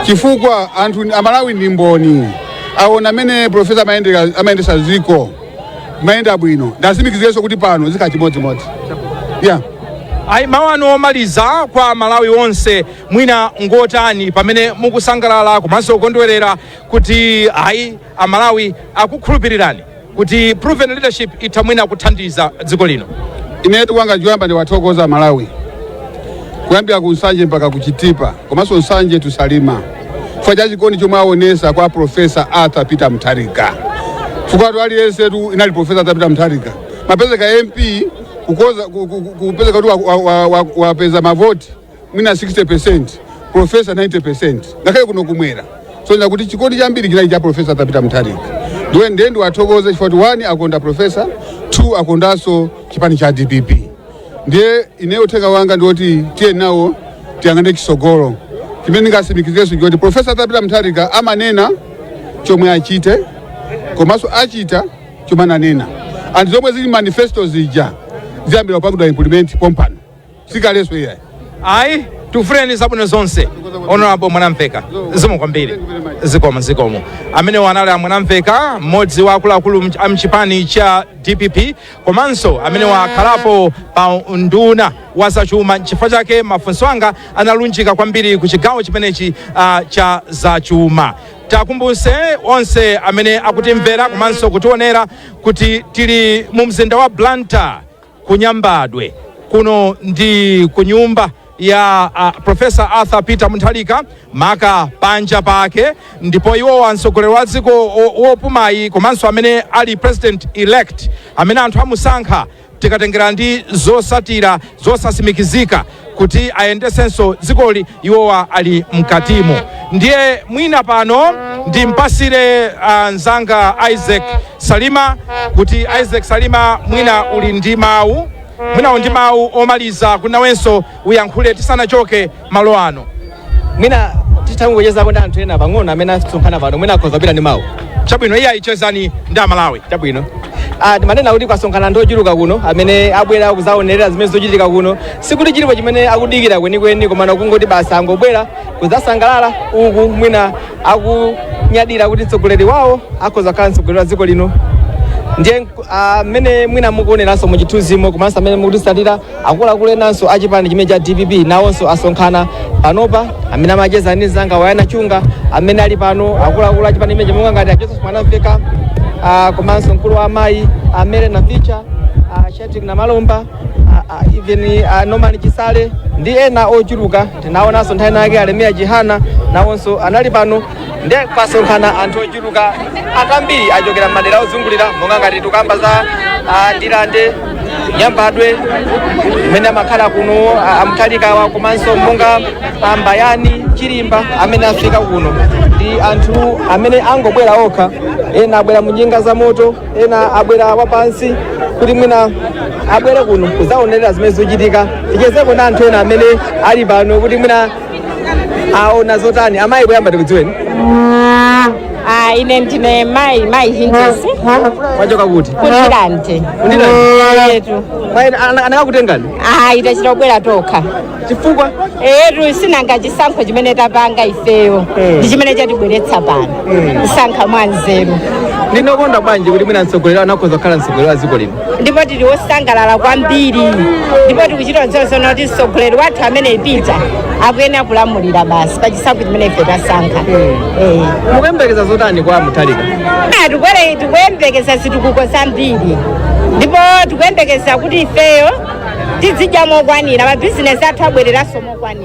chifukwa anthu amalawi ndi mboni aona amene profesa amayendera- amayendesa ziko mayenda bwino ndiwatsimikizirenso kuti pano zikhala chimodzimodzi yeah. ayi mawu anu omaliza kwa amalawi onse mwina ngotani pamene mukusangalala komanso kukondwerera kuti ayi amalawi akukhulupirirani kuti proven leadership itha mwina kuthandiza dziko lino imene tikupanga choyamba ndiwathokoze amalawi kuyambira ku nsanje mpaka ku chitipa komanso mchinji to salima chifukwa cha chikondi chomwe aonesa kwa profesa arthur peter mutharika chifukwa tu aliyense tu inali profesa arthur peter mutharika amapezeka mp kukhoza ku- ku- ku- kupezeka kuti wa- wa- wa- wa- wapeza mavoti mwina 60% profesa 90% ngakhale kuno kumwera kusonyeza kuti chikondi chambiri chinali cha profesa arthur peter mutharika ndiwe ndiye ndiwathokoze chifukwa choti one akonda profesa two akondanso chipani cha dpp ndiye ineyo uthenga wanga ndiwoti tiyeni nawo tiyang'ane chisogolo chimene ndingatsimikizirenso ndi choti profesa arthur peter mutharika amanena chomwe achite komanso achita chomwe ananena and zomwe zili mmanifesto zija ziyambira kupangidwa implement pompano sikalenso iyayi ayi tikufunireni zabwino zonse honorable mwanamveka zikomo kwambiri zikomo zikomo amene wo anali amwanamveka mmodzi wa akuluakulu mch- a mchipani cha dpp komanso amene wakhalapo nduna wa zachuma nchifukwa chake mafunso anga analunjika kwambiri ku chigawo chimenechi ah, cha zachuma tikumbutse onse amene akutimvera komanso kutionera kuti tili mu mzinda wa blantyre kunyambadwe kuno ndi kunyumba ya uh, profesa arthur peter mutharika maka panja pake ndipo iwo amtsogoleri wa dziko o- wopumayi komanso amene ali president elect amene anthu amusankha tikatengera ndi zotsatira zosatsimikizika kuti ayendesenso dzikoli iwowa ali mkatimo ndiye mwina pano ndimpatsire ah, nzanga isaac salima kuti isaac salima mwina uli ndi mawu mwina uli ndi mawu omaliza kuti nawenso uyankhule tisanachoke malo ano mwina tingochezako ndi anthu ena pang'ono amene asonkhana pano mwina akhoza kukhala ndi mawu chabwino iyayi chezani ndi amalawi chabwino Ah, timanena kuti kwasonkhana anthu ochuluka kuno amene abwera kuzaonerera zimene zikuchitika kuno sikuti chilipo chimene akudikira kwenikweni komano kungoti basi angobwera kuzasangalala uku mwina akunyadira kuti mtsogoleri wawo akhoza kukhala mtsogoleri wa dziko lino ndiye ah, mmene mwina mukuoneranso mu chithunzimo komanso amene mukutitsatira Akuluakulu enanso a chipani chimenechi cha dpp nawonso asonkhana panopa. Amene amacheza ndi mzanga Mayamiko Chunga amene ali pano, akuluakulu a chipani chimenechi monga ngati a Joseph Mwanamveka ah, komanso mkulu wa amayi a Mary Navicha a Shadrack Namalomba a- a- even a Norman Chisale ndi ena ochuluka. Tinaonanso nthawi inayake a Enoch Chihana nawonso anali pano nde kwasonkhana anthu ochuluka kwambiri achokera mmadera ozungulira monga ngati tukamba za ah, ndilande nyambadwe kumene amakhala kuno ah, a Mutharikawa komanso monga ah, mbayani chilimba amene afika kuno ndi anthu amene angobwera okha ena abwera mu njinga za moto ena abwera wapansi kuti mwina abwere kuno kuzaonerera zimene zikuchitika tichezeko ndi anthu ena amene ali pano kuti mwina aona zotani amayi poyamba tikudziweni Ah, ine ndine mai mai hinjesi mwachoka kuti kundirande Kundirande? etu Mayi, ana- anakakutengani ah tachita kubwera tokha chifukwa etu sinanga chisankho chimene tapanga ifeyo Eh. ndi chimene chatibweretsa pano Eh. kusankha mwanzeru ndinu okondwa bwanji kuti mwina mtsogoleriyu atha kukhoza kukhala mtsogoleri wa dziko lino ndipo tili wosangalala kwambiri ndipo tikuchita kuziona zoona kuti mtsogoleri wathu amene a Peter akuyenera kulamulira basi pachisankho chimene ife tasankha Eh. mukuyembekeza zotani kwa mutharika Ah, tikwere tikuyembekeza zitukuko zambiri ndipo tikuyembekeza kuti ifeyo tizidya mokwanira mabizinesi athu abwereranso mokwanira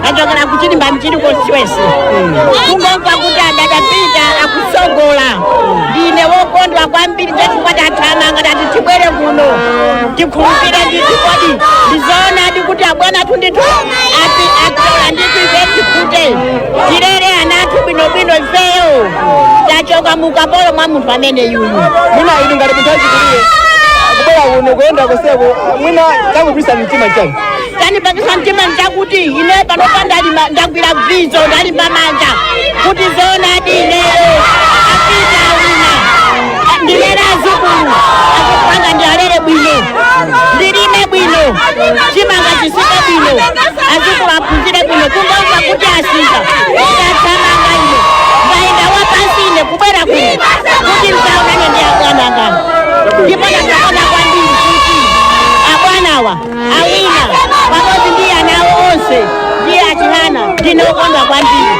ndachokera kuchilimba mchilikonse kungomva kuti adad Peter akutsogola ndine wokondwa kwambiri chachifukwa tathamanga tati tibwere kuno tikhulupirire ndithu kodi ndizoonadi kuti abwana athu ndithu atola ndithu ife tikhute tirere ana athu bwinobwino ifeyo tachoka mukapolo mwa munthu ameneyuyu mwina inu ngati munthu wachikulire kubwera kuno kuyenda kuseko mwina chakupangisa mtima chani chanipangisa mtima nchakuti ine panopa ndalima ndagwira bvizo ndalimba manja kuti zoonadi ineyo apita awina ndilere azukulu akukanga ndialere bwino ndilime bwino chimanga chitsike bwino azukulu aphunzire bwino kungomva kuti asika ndachamanga ine ndayenda wapansi ine kubwera kuno kuti ndizaonane ndi abwana angawa ndipo ndakondwa kwambiri kuti abwanawa awina pamodzi ndi ana awo onse ndi a Chihana ndine wokondwa kwambiri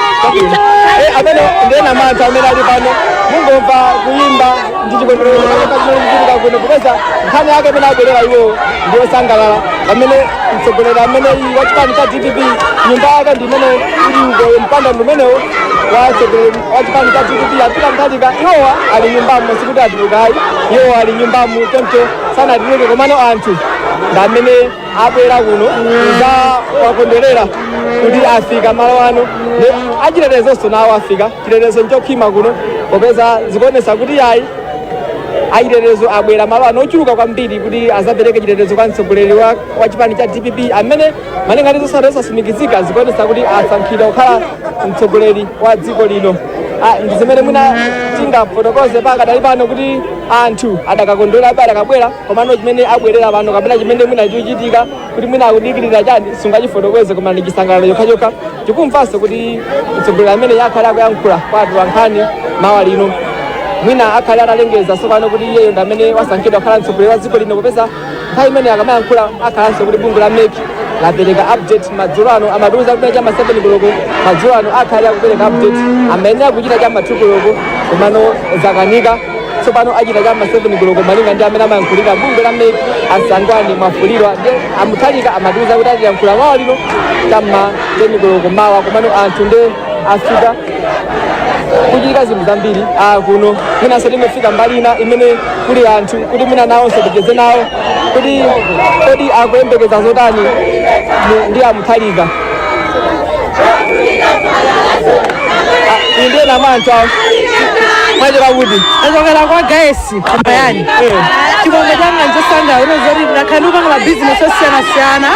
Eh, amenewo ndi ena mwa anthu amene ali pano mungomva kuyimba ndi chikondwerero chimene chikuchitika kuno kupeza nkhani yake imene abwerera iwowo ndi osangalala pamene mtsogoleri ameneyi wa chipani cha dpp nyumba yake ndi imene ili uko mpanda ndi umenewo wa mtsogoleri wa chipani cha dpp a Peter Mutharika iwowa ali mnyumbamo sikuti atuluka ayi iwowa ali mnyumbamo choncho sanatuluke komano anthu ndi amene abwera kuno kudzawakondwerera kuti afika malo ano ndi achitetezonso nawo afika chitetezo nchokhwima kuno popeza zikuonesa kuti yayi achitetezo abwera malo ano ochuluka kwambiri kuti azapereke chitetezo kwa mtsogoleri wa wa chipani cha dpp amene malinga ndi zotsatira zosatsimikizika zikuonetsa kuti asankhidwa kukhala mtsogoleri wa dziko lino Ah, ndi zimene mwina tingafotokoze pakadali pano kuti anthu adakakondwerabe adakabwera komano chimene abwerera pano kapena chimene mwina chochitika kuti mwina akudikirira chiyani sungachifotokoze koma ndi chisangalalo chokhachokha tikumvanso kuti mtsogoleri ameneyu akhale akuyankhula kwa anthu ankhani mawa lino mwina akhale atalengeza tsopano kuti iyeyo ndi amene wasankhidwa kukhala mtsogoleri wa dziko lino popeza nthawi imene akamayankhula akhalanso kuti bungwe la mec lapereka update madzulo ano amatiuza kuti chama 7 koloko madzulo ano akhale akupereka update amayenera kuchita chama 2 koloko komano zakanika tsopano achita chama 7 koloko malinga ndi amene amayankhulira bungwe la mec a Sangwani Mwafulirwa ndi a Mutharika amatiuza kuti atiyankhula mawa lino chama 10 koloko mawa komano anthu ndi afika kukuchitika zinthu zambiri ah, kuno mwinanso tinafika mbali ina imene kuli anthu kuti mwina nawonso ticheze nawo kuti kodi akuyembekeza zotani mu- ndi a Mutharika Ah, iyi ndiye namanthu awo mwachokera kuti achokera kwa guys koma yani chimwemwe changa nchosaneneka kunena zoti ndakhala ndikupanga mabizinesi osiyanasiyana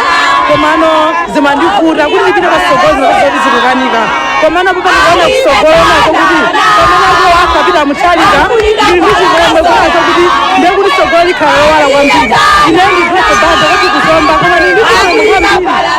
komano zimandivuta kuti ndipite patsogolo zoti zikukanika komano pano ndikaona kutsogolo kunena zoti pamene akuwina a Peter Mutharika ndili ndi chimwemwe kunena zoti ndiye kuti tsogolo likhala lowala kwambiri ine ndidropo banda kuti ku Zomba koma ndili ndi chimwemwe kwambiri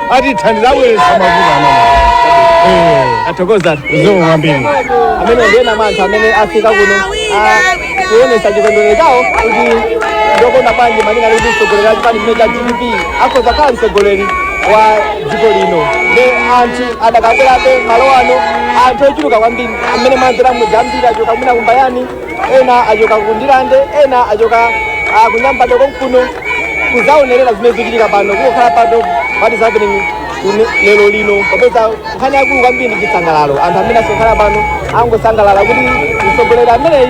atithandiza abweretsa mavuto amene Eh, tathokoza kwambiri amenewo ndi ena mwa anthu amene afika kuno ah, kuonesa chikondwerero chawo kuti ndokondwa bwanji malinga ndi kuti mtsogoleri wa chipani chino cha dpp akhoza khala mtsogoleri wa dziko lino ndi anthu adakabwerabe malo ano anthu ochuluka kwambiri amene mwanzera mudzi ambiri achoka mwina ku Mbayani ena achoka ku ndirande ena achoka ah, ku nyambadwe konkuno kuzaonerera zimene zikuchitika pano kukhala pano what is happening kune- lero lino popeza nkhani yaikulu kwambiri ndi chisangalalo anthu amene asonkhana pano angosangalala kuti mtsogoleri ameneyi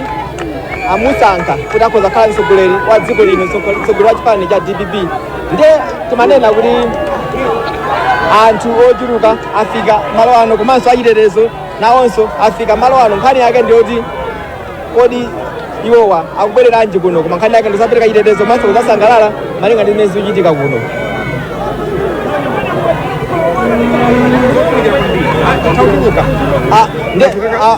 amusankha kuti akhoza kukhala mtsogoleri wa dziko lino mtsogole- mtsogoleri wa chipani cha dpp ndiye timanena kuti anthu ochuluka afika malo ano komanso achitetezo nawonso afika malo ano nkhani yake ndiyoti kodi iwowa akubwereranji kuno koma nkhani yake ndi kuzapereka chitetezo komanso kuzasangalala malinga ndi zimene zikuchitika kuno Ah, nde- ah,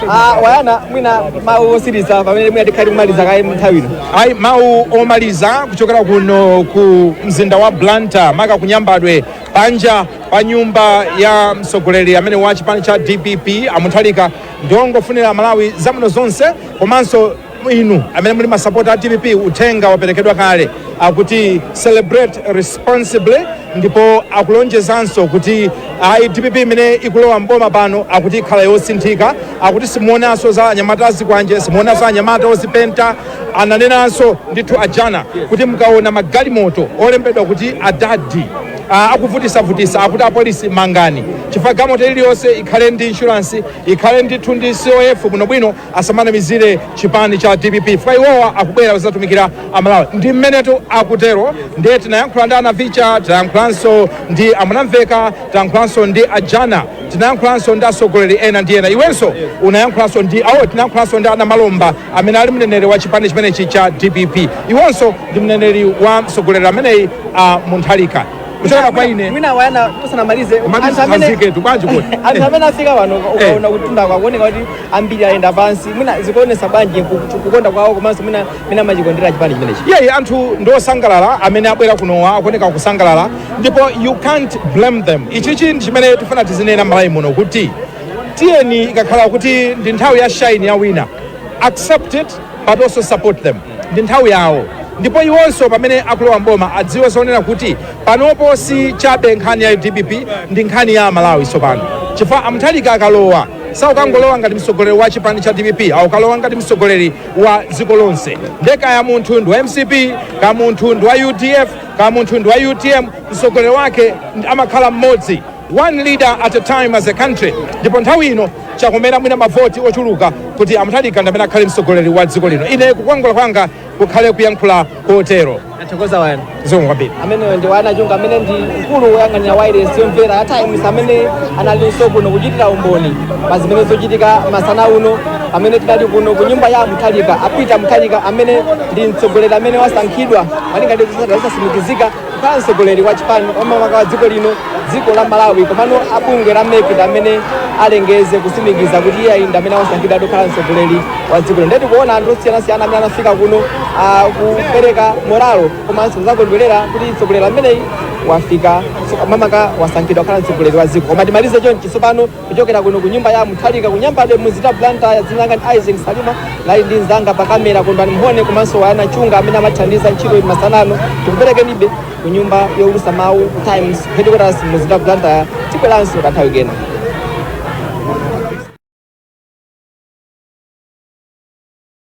ah, wayana mwina mawu otsiriza pamene mwina tikhali kumaliza kaye nthawi ino ayi mawu omaliza kuchokera kuno ku mzinda wa blantyre maka ku Nyambadwe panja pa nyumba ya mtsogoleri amene wa chipani cha dpp amuthalika ndiongofunira amalawi zabwino zonse komanso inu amene muli masapota a dpp uthenga waperekedwa kale akuti celebrate responsibly ndipo akulonjezanso kuti ayi dpp imene ikulowa mboma pano akuti ikhala yosinthika akuti simuonanso za anyamata azikwanje simuonanso anyamata ozipenta Ananenanso ndithu a Jana kuti mukaona magalimoto olembedwa kuti ana adadi ah, akuvutisavutisa akuti apolisi mangani chifukwa galimoto iliyonse ikhale ndi inshuransi ikhale ndithu ndi cof bwinobwino asamanamizire chipani cha dpp chifukwa iwowa akubwera kuzatumikira amalawi ndi mmenetu akutero ndiye tinayankhula ndi anavicha tinayankhulanso ndi amunamveka tinayankhulanso ndi ajana tinayankhulanso ndi atsogoleri ena ndi ena iwenso unayankhulanso ndi awo tinayankhulanso ndi anamalomba amene ali mneneri wa chipani chimenechi cha dpp iwonso ndi mneneri wa mtsogoleri ameneyi a muthalika kuchokera kwa ine mwina wonder tisanamalize anthu amene- mathithikithiki bwanji kuti anthu amene afika pano ukaona kutunda kukuoneka kuti ambiri ayenda pansi mwina zikuonesa bwanji ku- ku- kukonda kwawo komanso mwina mwina amachikondera chipani chimenechi iyeyi anthu ndi osangalala amene abwera kunowa akuoneka kusangalala ndipo you can't blame them ichichi ndi chimene tifuna tizinena malawi muno kuti tiyeni ikakhala kuti ndi nthawi ya shine ya wina accept it but also support them ndi nthawi yawo ndipo iwonso pamene akulowa mboma adziwe zonena kuti panopo si chabe nkhani ya dpp ndi nkhani ya malawi tsopano chifukwa amuthalika akalowa sakukangolowa ngati mtsogoleri wa chipani cha dpp akukalowa ngati mtsogoleri wa dziko lonse nde kaya munthu ndi wa mcp kaya munthu ndi wa udf kaya munthu ndi wa utm mtsogoleri wake amakhala mmodzi One leader at a time as a country ndipo nthawi ino chakomera mwina mavoti ochuluka kuti a Mutharika ndi amene akhale mtsogoleri wa dziko lino. Ine kukwangula kwanga kukhale kuyankhula kotero. Tathokoza Wonder. Zikomo kwambiri. ameneyo ndi wanangwa chunga amene ndi mkulu woyang'anira wailesi yomvera ya times amene analinso kuno kuchitira umboni pa zimene zochitika masana uno pamene tinali kuno ku nyumba ya a mutharika a peter mutharika amene ndi mtsogoleri amene wasankhidwa malinga ndi zotsatira zosatsimikizika kukhala mtsogoleri wa chipani makamaka wa dziko lino dziko la malawi komano abungwe la mec ndi amene alengeze kutsimikiza kuti iye ndi amene wasankhidwa kukhala mtsogoleri wa dziko lino nde tikuona anthu osiyanasiyana amene anafika kuno kupereka moralo komanso kuzakondwerera kuti mtsogoleri ameneyi wafika makamaka wasankhidwa kukhala mtsogoleri wa dziko koma timalize chonchi tsopano Kuchokera kuno ku nyumba ya Mutharika ku Nyambadwe mu mzinda wa Blantyre, dzina langa ndi Isaac Salima, ndinali ndi mnzanga pa kamera Kondwani Mhone komanso Wayana Chunga amene amathandiza ntchito ino masana ano. Tikuperekeninso ku nyumba youlutsa mawu ku Times headquarters mu mzinda wa Blantyre. Tibweranso kanthawi kena.